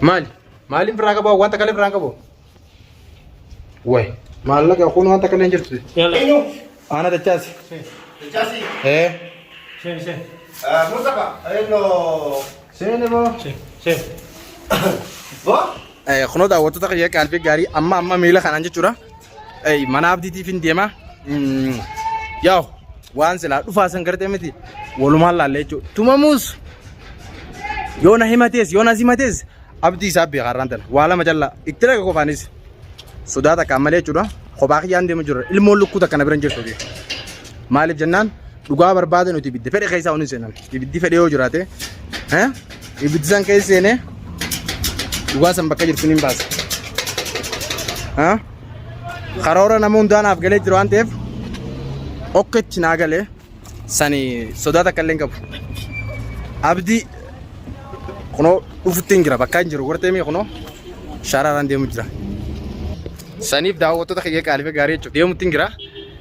Maali? Maaliin firraa qabu? Wanta kalee firraa qabu? Wayi. Maallaqa kun wanta kalee hin jirtu. Yalla. Ana dachaasi. Dachaasi. Eh. Seen seen. Mustafa. Eno. Seeni boo. Seen seen. Boo. Kunoo daawwattoota kiyya qaalbii gaarii amma amma miila kanaan jechuudha. Ey mana abdiitiif hin deema. Mm, Yaw waan silaa dhufaa san gartee miti walumaan laallee jechuudha. Tumamuus yoo na himatees yoo na simatees abdii isaa beekaa irraan tana waa lama callaa itti dhaga qofaanis sodaa takkaan malee jechuudha. Kophaa kiyyaan deema jirra ilmoon lukkuu takka na bira hin jirtu. Maaliif jennaan Dhugaa barbaade nuti ibidda fedhe keessaa hin seenan. Ibiddi fedhe yoo jiraate eh, ibiddi san keessa seenee dhugaa san bakka jirtu hin baasa. Eh? Karoora nama hundaa naaf galee jiru waan ta'eef okketti naa galee sani sodaa takka illee hin qabu. Abdii kunoo dhufutti hin jira bakka hin jiru gortee mii kunoo shaaraaraan deemu jira. Saniif daawwattoota kiyya qaalifa gaarii jechuuf deemutti hin jira.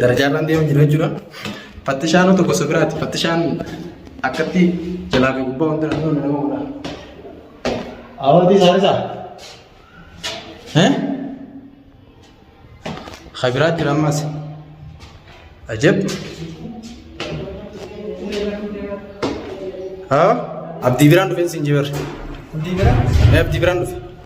Darajaarraan deemaa jira jechuudha. Fattishaan tokko gosa biraati. Fattishaan akkatti jalaa fi gubbaa wanti naannoo nama godha. Awwaati isaan isaa. Kabiraa jira ammas. Ajab. Abdii biraan dhufeen siin jibar. Abdii biraan dhufe.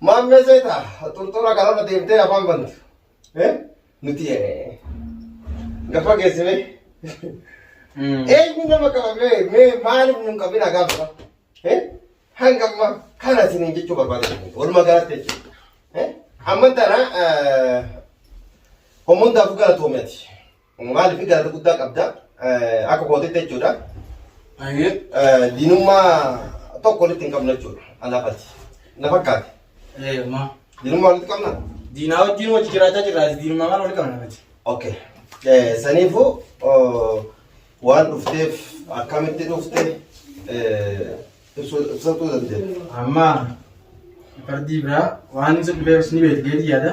Maammee seeta xurxura kanarra deemtee afaan bantu. Eh? Nuti eh, gafa geessime. Eenyu nama qaba mee mee maaliif nun qabina gaafa? Eh? Hanga amma kana isiniin jechuu barbaade walumaa galatti jechuudha. Eh? Amma tana eh, homoon daakuu galatoomee ati. Maaliif jaalala guddaa qabda akka kootitti jechuudha. Diinummaa tokko walitti hin qabnu jechuudha. Alaafati. Na fakkaate. Diinummaa walitti qabna? Diinaa wajjin wajji jiraachaa jirra. Diinummaa maal walitti qabna? Okay. Saniifuu waan dhufteef akkamitti dhufte ibsachuu dandeenya. Amma fardii biraa waan ibsa dhufeef ni beektu jechuudha.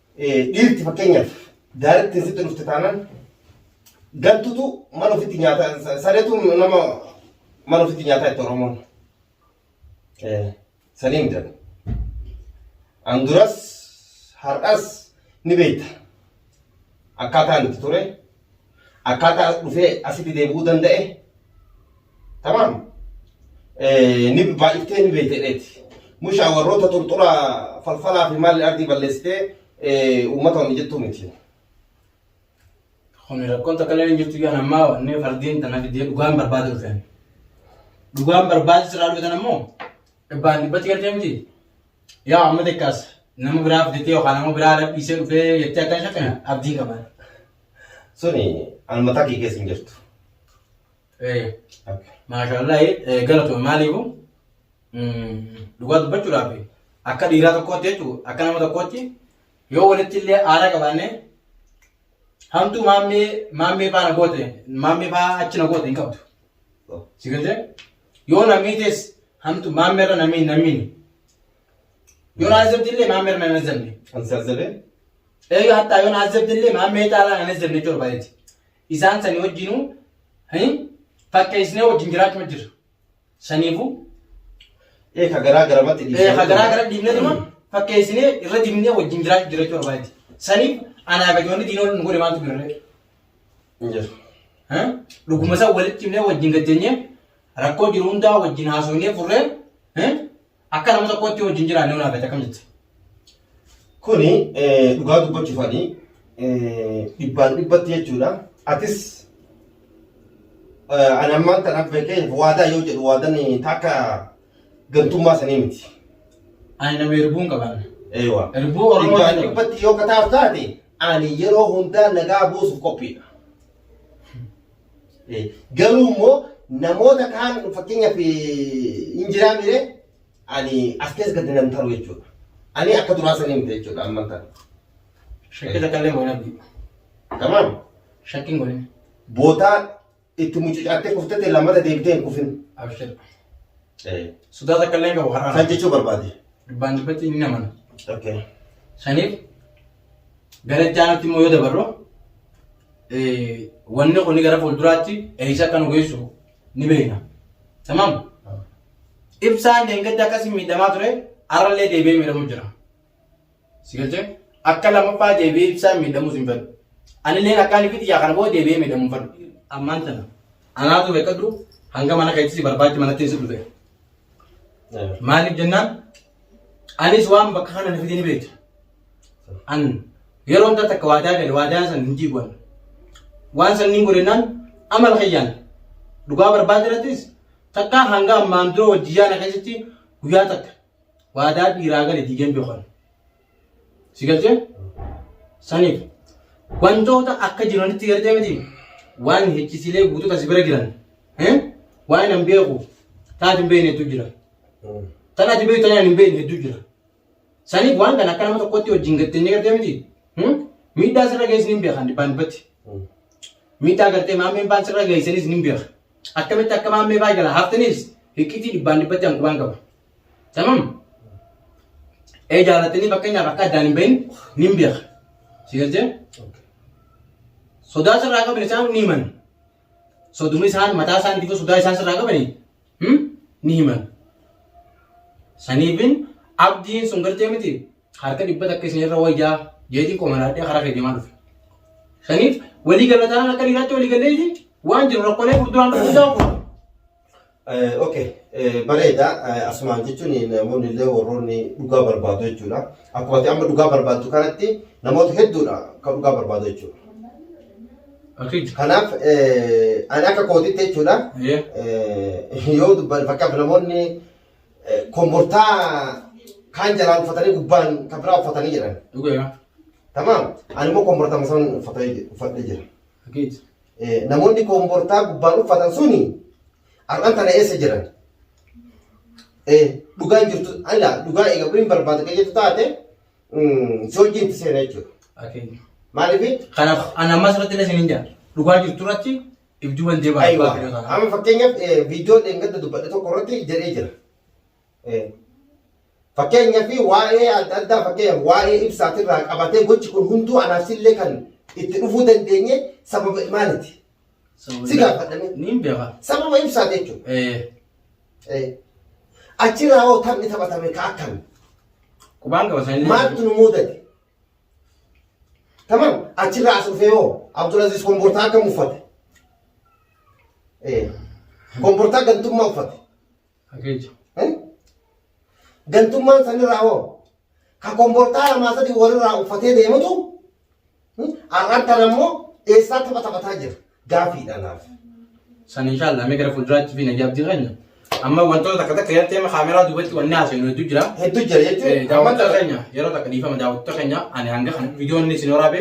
dhiirti fakkeenyaaf daarittiin sitti dhufte taanaan gantutu mana ofitti nyaata sareetu nama mana ofitti nyaataa itti oromoon saniin jedhama. An duras har'as ni beekta akkaataan itti ture. akkaataa dhufee asitti deebi'uu danda'e tamaam ni baay'iftee ni beekteedheeti. Mushaa warroota xurxura falfalaa fi maalli ardii balleessitee uummata wanni jettuu miti. Kun rakkoon takka illee hin jirtu yaan ammaa wanni fardiin tana fidee dhugaan barbaade dhufeen. Dhugaan barbaade sirraa dhufetan ammoo dhibbaan dhibbatti galtee miti yaa amma xiqqaas nama biraa fidetee yookaan nama biraa dhabbiisee dhufee jettee akka hin shakkine abdiin qaba. Suni almataa kee keessa hin jirtu. Eh, Maashaallah eh, galatoome maaliifu mm, dhugaa dubbachuudhaaf akka dhiiraa tokkootti jechuudha akka nama tokkootti yoo walitti illee aara qabaanne hamtuu maammee maammee faana goote maammee faa achi na goote hin qabdu. Si galtee? Yoo namii tees hamtu maammerra namii hin nammiin. Yoo na azzabdi illee maammerra nan azzabne. Kan si azzabee? Eeyyuu hattaa yoo na azzabdi illee maammee caalaa nan azzabne jechuu barbaadeti. Isaan sanii wajjinuu hin fakkeessnee wajjin jiraachuma jirra. Saniifuu Ee ka garaa garamatti dhiisee. Eh, hagaraa gara diimnee tuma fakkeessinee irra diimnee wajjin jiraachuu jiraachuu barbaaddi. Saniif anaa fi ijoollee diinoo nu godhe maaltu birree? hin jiru. Dhuguma isaa walitti himnee wajjin gajjanyee rakkoo jiru hundaa wajjin haasofnee furree akka nama tokkootti wajjin jiraannee naaf jette akkam jette. Kuni dhugaa dubbachuufani dhibbaan dhibbatti jechuudha. Atis ani ammaan tanaaf beekee waadaa yoo jedhu waadaan takka gantummaa sanii miti. Ani nama erbuun qaban. Eewa. Erbuu Oromoo Dhibbaan jedhama. dhibbatti yoo kataaf taate Ani yeroo hundaa nagaa buusuuf qophiidha. Garuu immoo namoota kaan fakkeenyaaf hin jiraa mire ani as keessa gadi nan taru jechuudha. Ani akka duraa sanii miti jechuudha amma kana. Shakkii takka illee moona biyu. Tamam. Shakkiin godhin. Bootaa Itti mucucaattee kuftee ta'e lammata deebitee hin kufin. Abshir. Eh, Sodaa takka illee hin qabu har'aan. Kan jechuu barbaade. Dhibbaan dhibbatti ni namana. Okay. Shaniif gara itti aanutti immoo yoo dabarru eh, wanni kun gara fuulduraatti eessa akka nu geessu ni beekna. Tamam? Ibsaan deengatti akkasii miidhamaa ture har'allee deebi'ee miidhamu jira. Si galchee? Akka lammaffaa deebi'ee ibsaan miidhamuus hin fedhu. Anilleen akkaan ifi xiyyaa kana booda deebi'ee miidhamuu hin fedhu. Ammaan tana anaatu beekadhu hanga mana keetti si barbaachi manatti si dhufe. Maaliif jennaan anis waan bakka kana na fide ni beekta. An yeroo hundaa takka waadaa gale waadaa san hin diiguwan. Waan san niin godhennaan amala kiyyaan dhugaa barbaade irrattis takka hanga ammaan dura wajjiyyaa na keessatti guyyaa takka waadaa dhiiraa gale diigee hin beeku ani. Si galchee? Saniif wantoota akka jiranitti galtee miti waan hechisilee guutuuta si bira jiran eh, waan hin beeku taati hin beekne hedduu jira. Tan ati beektu tan ani hin beekne hedduu jira. Saniif waan kana akka nama tokkotti wajjin gatteenyee galtee miti hmm? miidhaa sirra geessin hin beekan dhibbaan dhibbatti. Miidhaa gartee maammeen baan sirra geessanis ni beeka. Akkamitti akka maammee baa jala haftanis hiqqitii dhibbaan dhibbatti hanqubaan qaba. Tamam. Ee jaalatanii fakkeenyaaf akka addaan hin bahin ni beeka. Si galtee? Sodaa sirraa qaban isaan ni himan. Soduma isaan mataa isaaniitiif sodaa isaan sirraa qabanii ni himan. Saniifin abdiin sun gartee miti harka dhibba takka isinirra wayyaa jeetiin qomanaadhee karaa kee deemaa dhufe. Saniif walii galataan akka dhiiraatti walii galleeti waan jiru rakkolee furduraan dhufuusaa kun. Ok, bareeda. Asumaan jechuun namoonni illee warroonni dhugaa barbaadu jechuudha. Akkuma ati amma dhugaa barbaaddu kanatti namoota hedduudha kan dhugaa barbaadu jechuudha. Akid. Kanaaf ani akka kootitti jechuudha. Yoo dubban fakkaaf namoonni kombortaa kaan jalaa uffatanii gubbaan kan biraa uffatanii jiran. Dhugaa. Tamaam ani immoo kombortaa masan uffatee jira. Namoonni kombortaa gubbaan uffatan suni har'an tana eessa jiran? Dhugaan jirtu ala dhugaa egaa kun barbaada kan jettu taate si wajjin itti seena jechuudha. Maaliif? Kanaaf ani ammas irratti illee isin hin jaa. Dhugaa jirtu irratti ibjuu ban jebaa Aywa. abbaa biyyoota kanaa. Amma fakkeenyaaf eh, viidiyoo dheengadda dubbadhe tokko irratti jedhee jira. Eh, Fakkeenyaaf waa'ee adda addaa fakkeenyaaf waa'ee ibsaatirraa qabatee gochi kun hunduu anaaf sillee kan itti dhufuu dandeenye sababa maaliti? Sababa- Si gaafadhame. Niin beeka. Sababa ibsaati jechuudha. Eh, Eh, Achirraa hoo taphni taphatame ka akkami? Qubaan qaba sanillee. Maaltu nu muudate? Tamam achirraa as dhufee hoo Abdulaziz kombortaa akkam uffate? Eh, Kombortaa gantummaa uffate. Akeecha. Eh? Gantummaan sanirraa hoo ka kombortaa lamaa sadii walirraa uffatee deemutu hmm? ar'aan tan ammoo eessaa tapha taphataa jira. gaafii dha naaf. San inshallah mee gara fuulduraatti fi najaabdii keenya. Amma wantoota takka takka yeroo teema kaameraa duubatti wanni haasofnu hedduu jira. Hedduu jira Eh, jechuun. Daawwattoota keenya yeroo takka dhiifama daawwattoota keenya ani hanga kana viidiyoon isin waraabe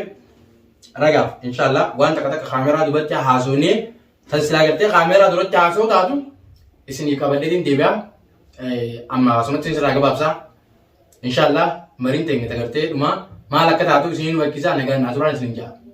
ragaaf inshallah waan takka takka kaameraa duubatti haasofnee tan silaa gartee kaameraa duratti haasoo taatu isinii qabadheetiin deebi'a. Eh, Amma haasumatti isin irraa gabaabsaa. Inshallah mariin teenya tagartee dhuma maal akka taatu isiniin wakkisaa nagaan naa turaan isin ja'a.